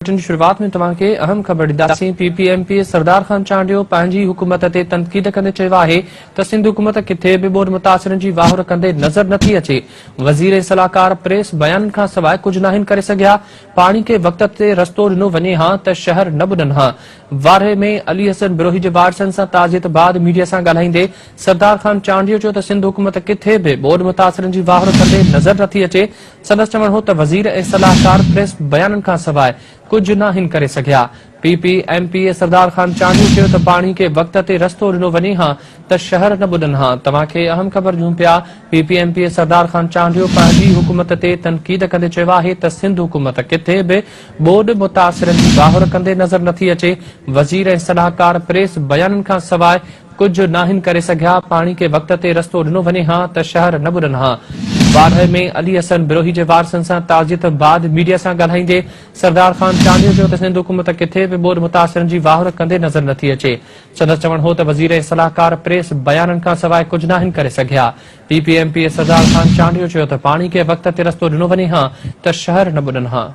Bulletin جي شروعات ۾ توهان کي اهم خبر ڏينداسين، P P M P A Sardar Khan Chandio پنهنجي حڪومت تي تنقيد ڪندي چيو آهي ته سنڌ حڪومت ڪٿي به ٻوڏ متاثرن جي واهر ڪندي نظر نٿي اچي، وزير ۽ صلاحڪار پريس بيانن کان سواء ڪجهه ناهن ڪري سگهيا، پاڻي کي وقت تي رستو ڏنو وڃي ها ته شهر نه ٻڏن ها. وارهه ۾ علي حسن بروهي جي وارثن سان تعزيت بعد ميڊيا سان ڳالهائيندي سردار خان چانڊيو چيو ته سنڌ حڪومت ڪٿي به ٻوڏ متاثرن جي واهر ڪندي نظر نٿي اچي، سندس چوڻ هو ته وزير ۽ صلاحڪار پريس بيانن کان سواء ڪجهه ناهن ڪري سگهيا. P P M P A Sardar Khan Chandio چيو ته پاڻي کي وقت تي رستو ڏنو وڃي ها ته شهر نه ٻڏن ها، توهان کي اهم خبر ڏيون پيا، P P M P A Sardar Khan Chandio پنهنجي ئي حڪومت تي تنقيد ڪندي چيو آهي ته سنڌ حڪومت ڪٿي به ٻوڏ متاثرن جي ٻاهر ڪندي نظر نٿي اچي، وزير ۽ صلاحڪار پريس بيانن کان سواء ڪجهه ناهن ڪري سگهيا، پاڻي کي وقت تي رستو ڏنو وڃي ها ته شهر نه ٻڏن ها. باڊهه ۾ علي حسن بروهي جي وارثن سان تعزيت بعد ميڊيا سان ڳالهائيندي سردار خان چانڊيو چيو ته سنڌ حڪومت ڪٿي به ٻوڏ متاثرن جي واهر ڪندي نظر نٿي اچي. سندس چوڻ هو ته وزير ۽ صلاحڪار پريس بيانن کانسواء ڪجهه ناهن ڪري سگهيا. P P M P Sardar Khan Chandio چيو ته پاڻي کي وقت تي رستو ڏنو وڃي ها ته شهر نه ٻڏن ها.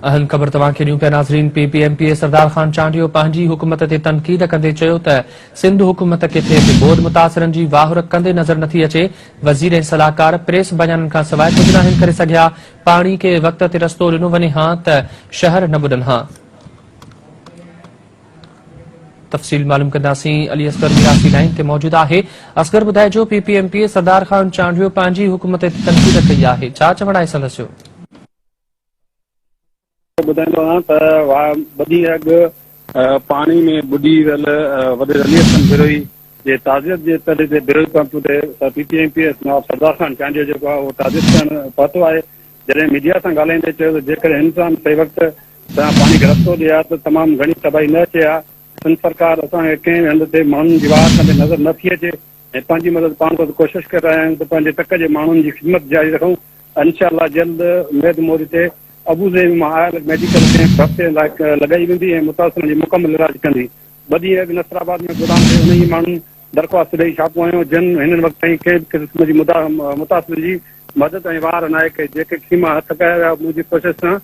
اهم خبر توهان کي ڏيون پيا ناظرين P P M P A Sardar Khan Chandio پنهنجي حڪومت تي تنقيد ڪندي چيو ته سنڌ حڪومت کي ٿئي ٿي ٻوڏ متاثرن جي واهر ڪندي نظر نٿي اچي وزير ۽ صلاحڪار پريس بيانن کان سواء ڪجهه ناهن ڪري سگهيا پاڻي کي وقت تي رستو ڏنو وڃي هان ته شهر نه ٻڏن هان تفصيل معلوم ڪنداسين علي اصغر ميراثي لائين تي موجود آهي اصغر ٻڌائجو P P M P Sardar Khan Chandio پنهنجي حڪم تي تنقيد ڪئي آهي ڇا چوڻ آهي سندس جو ٻڌائيندو آهيان ته ٻڌي اڳ پاڻي ۾ ٻڏي ويل وڏي علي حسن بروهي جي تعزيت جي تڏي تي بروهي پمپ تي P P M P Nawab Sardar Khan Chandio جيڪو آهي اهو تعزيت ڪرڻ پهتو آهي جڏهن ميڊيا سان ڳالهائيندي چيو ته جيڪڏهن هن سان صحيح وقت سان پاڻي کي رستو ڏئي ها ته تمام گهڻي تباهي نه اچي ها، سنڌ سرڪار اسان کي ڪنهن به هنڌ تي ماڻهن جي واهه ڪندي نظر نه ٿي اچي ۽ پنهنجي مدد پاڻ ڪرڻ جي ڪوشش ڪري رهيا آهيون ته پنهنجي تڪ جي ماڻهن جي خدمت جاري رکون انشاء الله جلد اميد موري تي ابوظهبي مان آيل ميڊيڪل ڪيمپ هفته لاء لڳائي ويندي ۽ متاثرن جي مڪمل علاج ڪندي ٻه ڏينهن اڳ نصرآباد ۾ گودام تي انهيء ماڻهن درخواست ڏئي ڇاپو هنيو، جن هن وقت تائين ڪنهن به قسم جي متاثرن جي مدد ۽ واهر ناهي ڪئي، جيڪي خيما هٿ ڪيا ويا منهنجي ڪوشش سان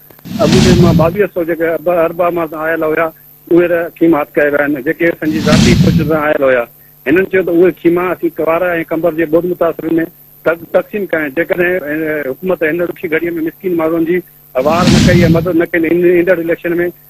اڳوڻي مان ٻاويهه سئو جيڪي اربع مان آيل هيا اهي ته خيما هٿ ڪيا ويا آهن، جيڪي اسان جي ذاتي ڪوششن سان آيل هيا، هنن چيو ته اهي خيما اسين ڪنوار ۽ قمبر جي ٻوڏ متاثرن ۾ تقسيم ڪيا آهن، جيڪڏهن حڪومت هن ڏکي گهڙي ۾ مسڪين ماڻهن جي واهر نه ڪئي يا مدد نه ڪئي ته ايندڙ اليڪشن ۾